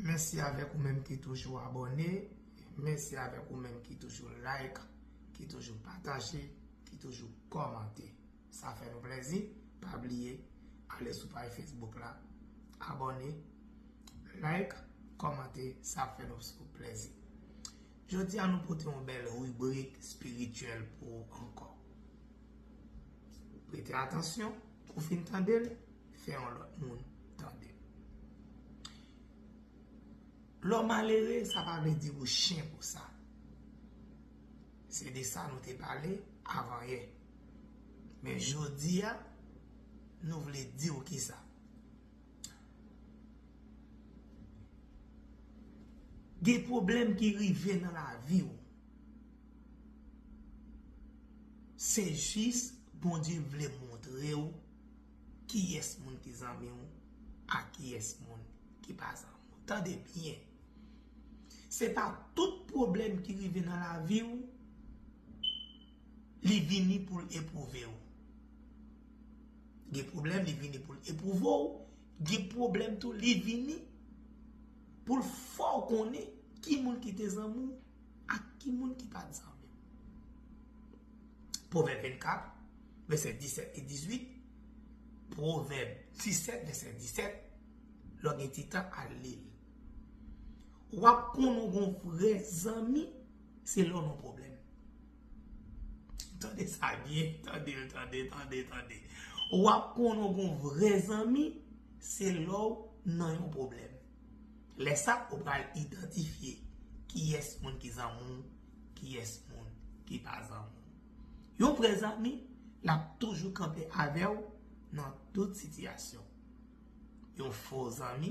Mèsi avèk ou menm ki toujou abòne, mèsi avèk ou menm ki toujou like, ki toujou pataje, ki toujou kòmante. Sa fè nou plèzi, pa bliye ale sou paj Facebook la, abòne, like, kòmante, sa ap fè nou plèzi. Jodi a nou pote yon bèl ribrik spirityèl pou ou ankò. Prete atansyon, ou fin tande l, fè yon lòt moun tande l. Lè w malere, sa pa vle di ou chen pou sa. Se de sa nou te pale avan yè. Men jodi a, nou vle di w kisa. Gen pwoblèm ki rive nan lavi w. Se jis Bondye vle montre w kiyès moun ki zanmi w ak kiyès moun ki pa zanmi w. Tande byen! Se pa tout pwoblèm ki rive nan lavi w li vini pou l epwouve w. Gen pwoblèm li vini pou l epwouve w, gen pwoblèm tou li vini pou l fè w konnen ki moun ki te zanmi w. Ak ki moun ki pa ansanm? Pwovèb 24, vèsè 17 e 18 Pwovèb 17, vèsè 17 Lè w gen ti tan, al li l W ap konnen w gen yon vrè zanmi se lè w nan pwoblèm Tande sa byen, tande, tande, tande, tande W ap konnen w gen yon vrè zanmi se lè w nan yon pwoblèm Lè sa ou pral idantifye kiyès moun ki zanmi w, kiyès moun ki pa zanmi w. Yon vrè zanmi, l ap toujou kanpe avè w nan tout sitiyasyon. Yon fo zanmi,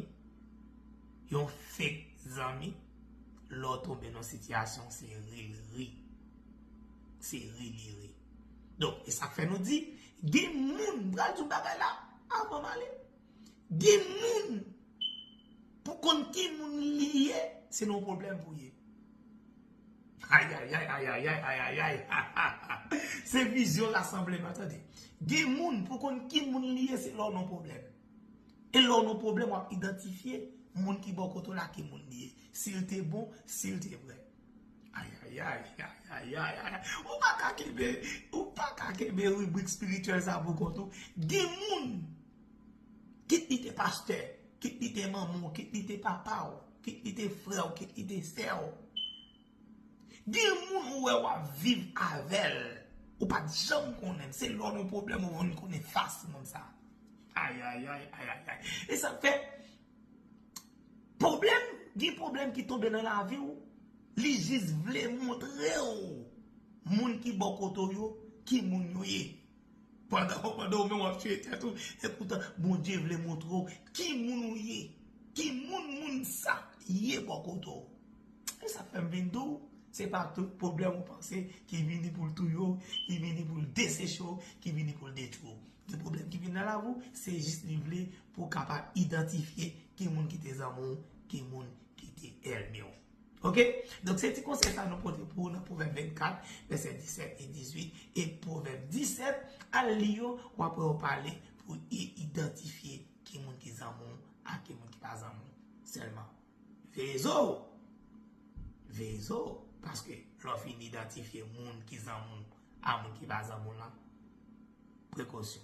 yon fek zanmi, lè w tonbe nan sitiyasyon se ri l ri. Se ri li ri. Donk, e sa k fè nou di, gen moun, m pral di yon bagay la avan m ale. Gen moun pou konn ki moun li ye se nan yon pwoblèm pou ye. Ayayay ayayay ayayay hahaha se vizyon rasanbleman tande. Gen moun pou konn ki moun li ye se lè w nan yon pwoblèm. E lè w nan yon pwoblèm w ap idantifye moun ki bò kote w la ki moun li ye. Si l te bon, si l te vrè. Ayayayayayayayayay ou pa ka kenbe ou pa ka kenbe ribrik spirityèl sa pou kont ou gen moun kit li te pastè kit li te manman w kit li te papa w kit li te frè w kit li te sè w gen moun ou wè w ap viv avèl ou pat janm konnen l se lè w gen pwoblèm ou vin konnen fas moun sa ayayayayayayay e sa k fè Pwoblèm, gen pwoblèm ki tonbe nan lavi w, li jis vle montre w moun ki bò kote w yo ki moun yo ye. Pandan w menm w ap tiye tèt ou, epoutan Bondye vle montre w ki moun ou ye, ki moun moun sa ye bò kote w. Se sa k fè m vin di w, se pa tout pwoblèm ou panse ki vini pou l touye w, ki vini pou l deseche w, ki vini pou l detwi w. Gen pwoblèm ki vini nan lavi w, se jis li vle Pou w kapab idantifye ki moun ki te zanmi w, ki moun ki te ènmi w. Ok? Donk se ti konsèy sa nou pote pou ou nan Pwovèb 24, vèsè 17 e 18, e Pwovèb 17, al li yo, w ap wè ou pale pou w idantifye ki moun ki zanmi w ak ki moun ki pa zanmi w. Sèlman, veye zo ou! Veye zo ou! Paske lè w fin idantifye moun ki zanmi w ak moun ki pa zanmi w lan, prekosyon!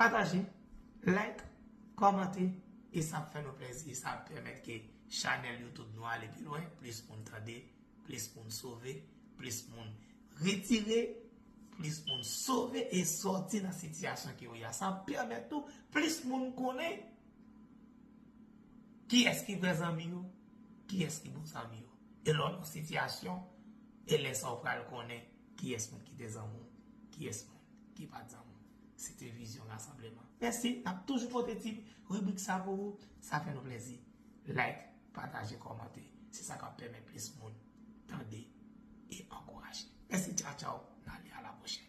Pataje, like, kòmante e sa ap fè nou plèzi e sa ap pèmèt ke chanèl YouTube nou ale pi lwen, plis moun tande, plis moun sove, plis moun retire, plis moun sove e sòti nan sitiyasyon ke yo ye a. Sa ap pèmèt tou plis moun konnen kiyès ki vrè zanmi yo, kiyès ki bon zanmi yo. E lè w nan sitiyasyon, e lè sa w pral konnen kiyès moun ki te zanmi w, kiyès moun ki pa t zanmi w. Site Vizyon Rasanbleman. Mèsi, n ap toujou pote ti ribrik sa pou ou. Sa fè nou plèzi. Like, pataje, kòmante. Se sa k ap pèmèt plis moun tande e ankouraje. Mèsi, tchaw tchaw, n ale a la pwochèn.